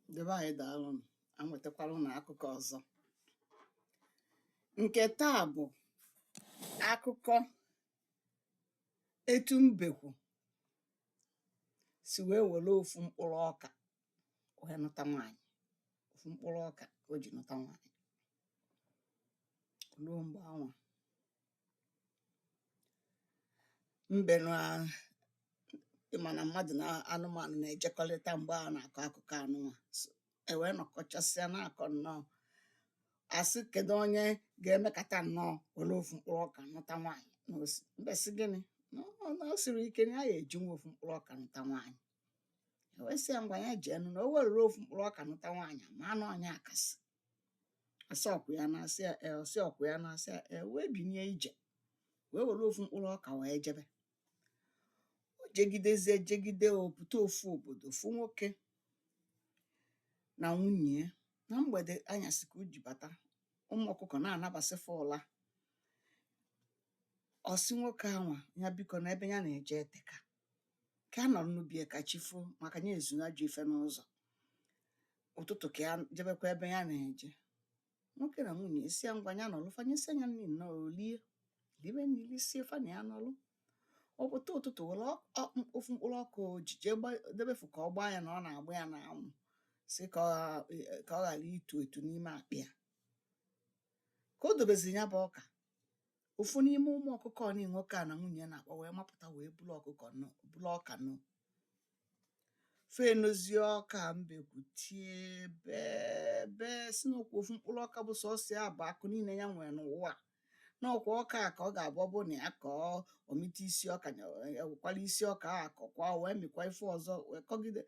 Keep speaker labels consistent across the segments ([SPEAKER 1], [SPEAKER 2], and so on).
[SPEAKER 1] ndị be ànyị dàalụ nụ̀ a nwètakwara ụnụ akụkọ ọ̀zọ ǹkè taa bụ̀ akụkọ etu mbèkwù sì wèe wère ofu mkpụrụ ọkà wèe nụta nwaànyị̀ ofu mkpụrụ ọkà o jì nụta nwaànyị̀ ruo m̀gbè anwà mbe nwa ị ma na mmadụ na anụmanụ na-ejekọrịta mgbe a na-akọ akụkọ anụnwa So, e wee nọkọchasịa na-akọ nnọọ a sị kedu onye ga-emekata nnọọ were ofu mkpụrụ ọka nụta nwaanyị na osi mbe sị gịnị na ọ na o siri ike na ya ga-eji nwa ofu mkpụrụ ọka nụta nwaanyị e wee sị ya ngwa ya jee nụ na o were ofu mkpụrụ ọka nụta nwaanyị ma na ọ nya akasị a sị ọkwa ya na asị e, ọ sị ọkwa ya na asị e, wee binie ije wee were ofu mkpụrụ ọka wee jebe o jegidezie jegide ọ pụta ofu obodo ofu nwoke na nwunye ya na mgbede anyasị ka o ji bata ụmụ ọkụkọ na-anabasị fa ụla ọ sị nwoke anwa ya biko na ebe ya na-eje eteka ka ya nọrọ na be ya ka chi foo maka ya ezu ajọ ife n'ụzọ ụtụtụ ka ya jebekwa ebe ya na-eje nwoke na nwunye ya sị ya ngwa ya nọlụ fa nyesịa nya nri nnọọ o lie libe nri lisie fa na ya nọlụ ọ pụta ụtụtụ were ọ- ọ- m- ofu mkpụrụ ọka o ji jee gba- debefu ka ọ gbaa ya na ọ na-agba ya n'anwụ si ka ọ gha- ka ọ ghara itu etu n'ime akpị ya ka o dobezi ya bụ ọka ofu n'ime ụmụ ọkụkọ ndị nwoke a na nwunye na-akpa wee mapụta wee bulu ọkụkọ nụ bulu ọka nụ fe nozie ọka mbekwu tie bee bee sị n'ọkwa ofu mkpụrụ ọka bụ sọsọ ya bụ akụ niile ya nwere n'ụwa n'ọkwa ọka a ka ọ ga-abụ ọ bụrụ na ya kọọ ọ mịta isi ọka e wekwalụ isi ọka a kọkwa wee mịkwa ife ọzọ wee kọgide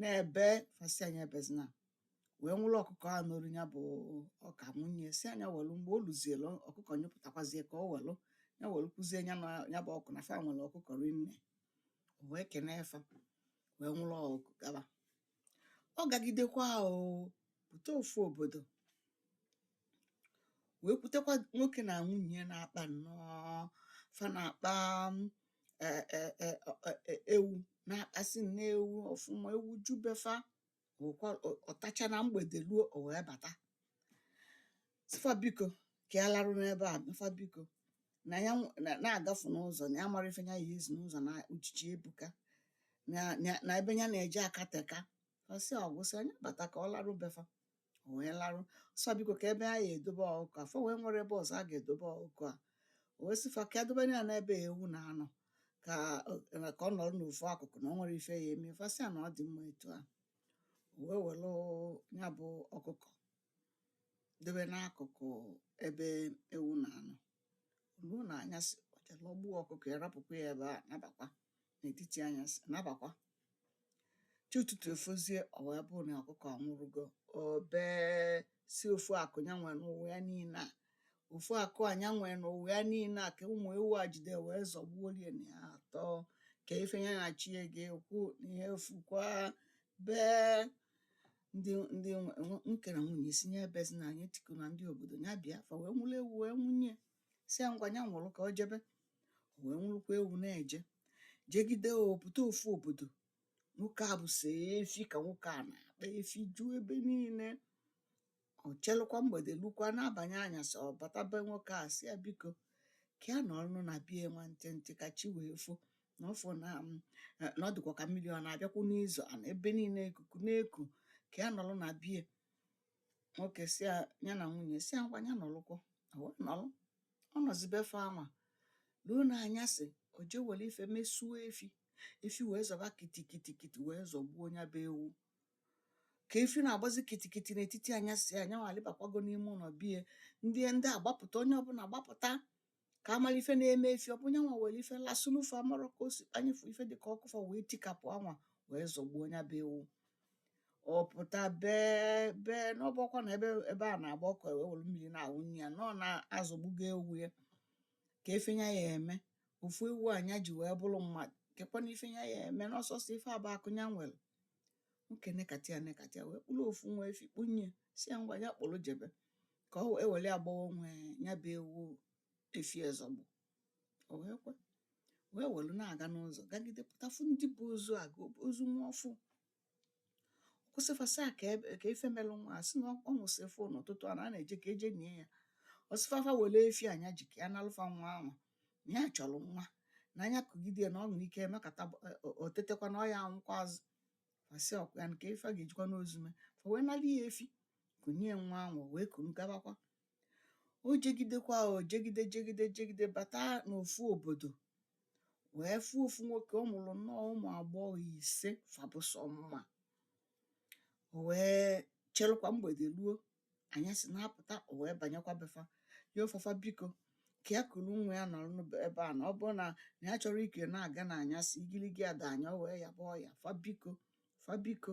[SPEAKER 1] na-ebe fa sị a nya ebezina wee nwụrụ ọkụkọ a nolu ya bụ ọka bunye sị a nya welụ mgbe o luzielu ọkụkọ nyụpụtakwazie ọka o welụ ya welụ kụzie ya na ya bụ ọkụkọ na fa nwere ọkụkọ rinne o wee kenee fa wee nwụrụ ọkụkọ gaba ọ gagidekwa ọ pụta ofu obodo wee kwutekwa nwoke na nwunye na-akpa nnọọ fa na-akpa mm, e- e- e- ọ- e- e- ewu na-akpasị nne ewu ọfụma ewu ju be fa ọtacha na mgbede ruo o wee bata sị fa biko ka ya larụ na be fa biko na ya na-agafu n'ụzọ na ya amarọ ife ya ya-ezu n'ụzọ na uchichi ebuka na ebe ya na-eje akateka ọ sị ọ gwụsịa nya bata ka ọ larụ be fa o wee larụ sị biko kee ebe a ya-edobe ọkụkọ a fọ wee nwere ebe ọzọ a ga-edobe ọkụkọ a o wee sị fa ka e dobe ya n'ebe ewu na-anọ ka ka ọ nọrọ n'ofu akụkụ na ọ nwere ife ya eme fa sị ya na ọ dị mma etu a o wee were nya bụ ọkụkọ dobe n'akụkụ ebe ewu na-anọ ruo n'anyasị o je rọgbuo ọkụkọ ya rapụkwa ya ebe a nabakwa n'etiti anyasị nabakwa chi ụtụtụ efozie ọ wee bụrụ na ọkụkọ anwụrụgo o bee sị ofu akụ ya nwee n'ụwa ya niile a ofu akụ a ya nwee n'ụwa ya niile a ka ụmụ ewu a jide wee zọgbuoro ya na ya atọ ka ife ya na chi ya ga-ekwu na ihe efukwa bee ndị ndị nwe- nwe- nwoke na nwunye sị ya ebezina ya etikuna ndị obodo ya bịa fa wee nwụrụ ewu wee nwụnye sị ya ngwa ya nwụrụ ka o jebe o wee nwụrụkwa ewu na-eje jegide ọ pụta ofu obodo nwoke a bụ sọ efi ka nwoke a na-akpa efi juo ebe niile o chelukwa mgbede lukwa a na-abanye anyasị ọ bata be nwoke a sị ya biko ka ya nọrọnụ na be ya nwa ntịntị ka chi wee fo na ọ fụ na na ọ dịkwa ka mmiri ọ na-abịakwu n'izo and ebe niile ikuku na-eku ka ya nọrọ na be ya nwoke sị ya ya na nwunye sị ya ngwa ya nọlụkwọ o wee nọlụ ọ nọzi be fa anwa ruo n'anyasị o je were ife mesuo efi efi wee zọba kitikitikiti wee zọgbuo nya bụ ewu ka efi na-agbazi kitikiti n'etiti anyasị ya nyanwa alịbakwago n'ime ụnọ bie ndị ndị agbapụta onye ọbụna agbapụta ka a mara ife na-eme efi ọ bụ nyanwa were ife lasụlụ fa amarọ ka o si kpanye fa ife dị ka ọkụ fa wee tikapụ anwa wee zọgbuo nya bụ ewu ọ pụta bee bee na ọ bụkwa na ebe ebe a na-agba ọkụ wee were mmiri na-awụnye ya na ọ na azọgbugo ewu ya kee ife nya ya-eme ofu ewu a nya ji wee bụrụ mmadụ kekwanụ ife nya ya-eme na ọ sọsọ ife a bụ akụ ya nwere nwoke nekata ya nekata ya wee kpụrụ ofu nwa efi kpụnye sị ya ngwa ya kpụrụ jebe ka ọ wee were gbanwo nya bụ ewu efi a zọgbu o wee kwe wee were na-aga n'ụzọ gagide pụta fụ ndị bu ozu aga ozu nwa ọfụụ o kwụsị fa sị kee ife melụ nwa a sị na ọ nwụsịrị ọfụụ n'ụtụtụ a na a na-eje ka e je nie ya ọ sị fa fa were efi a nya ji ka ya nalụ fa nwa anwa na ya chọrọ nwa na nya kugide na o nwere ike emekata o tetekwa na ọ ya anwụkwa azụ fa sị ọkwa ya na kee ife a ga-ejikwanụ ozu mee fa wee nara ya efi kunye nwa anwa wee kuru gabakwa o jegidekwa o jegide jegide jegide bata n'ofu obodo wee fụ ofu nwoke ọ mụrụ nnọọ ụmụ agbọghọ ise fa bụ sọ mma o wee chelukwa mgbede ruo anyasị na-apụta o wee banyekwa be fa yọọ fa fa biko ka ya kuru nwa ya nọrọ n'ebe a na ọ bụrụ na na ya chọrọ ịka na-aga na anyasị igirigi adaa nya o wee yọba ayọ fa biko fa biko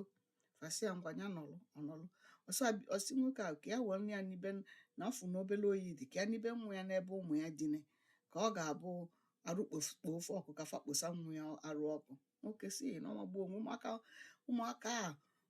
[SPEAKER 1] fa sị ya ngwa ya nọrọ ọ nọrọ ọsọ abi- ọ sị nwoke ahụ ka ya were ya nibe n- na ọ fụ na obere oyi dị ka ya nibe nwa ya n'ebe ụmụ ya dine ka ọ ga-abụ arụ kpof- kpoo fa ọkụ ka fa kposa nwa ya arụ ọkụ nwoke sị na ọ magbuo onwe ụmụaka ụmụaka a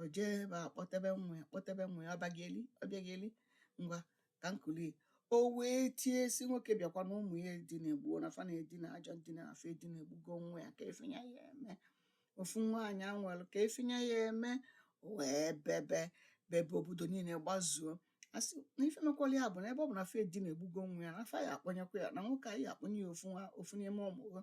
[SPEAKER 1] o jee ebe a kpọtebe nwa ya kpọtebe nwa ya obiageli obiageli ngwa ka m kulie o wee tie sị nwoke bịakwa na ụmụ ya edinagbuo na fa na-edina ajọ ndina na fa edinagbugo nwa ya kee ife nya ya-eme ofu nwa nya nwere kee ife nya ya-eme o wee bebe bebe obodo niile gbazuo a sị na ife mekwala ya bụ na ebe ọ bụ na fa edinagbugo nwa ya na fa ya-akpọnyekwa ya na nwoke a ya-akpọnye ya ofu nwa ofu n'ime ụmụ ha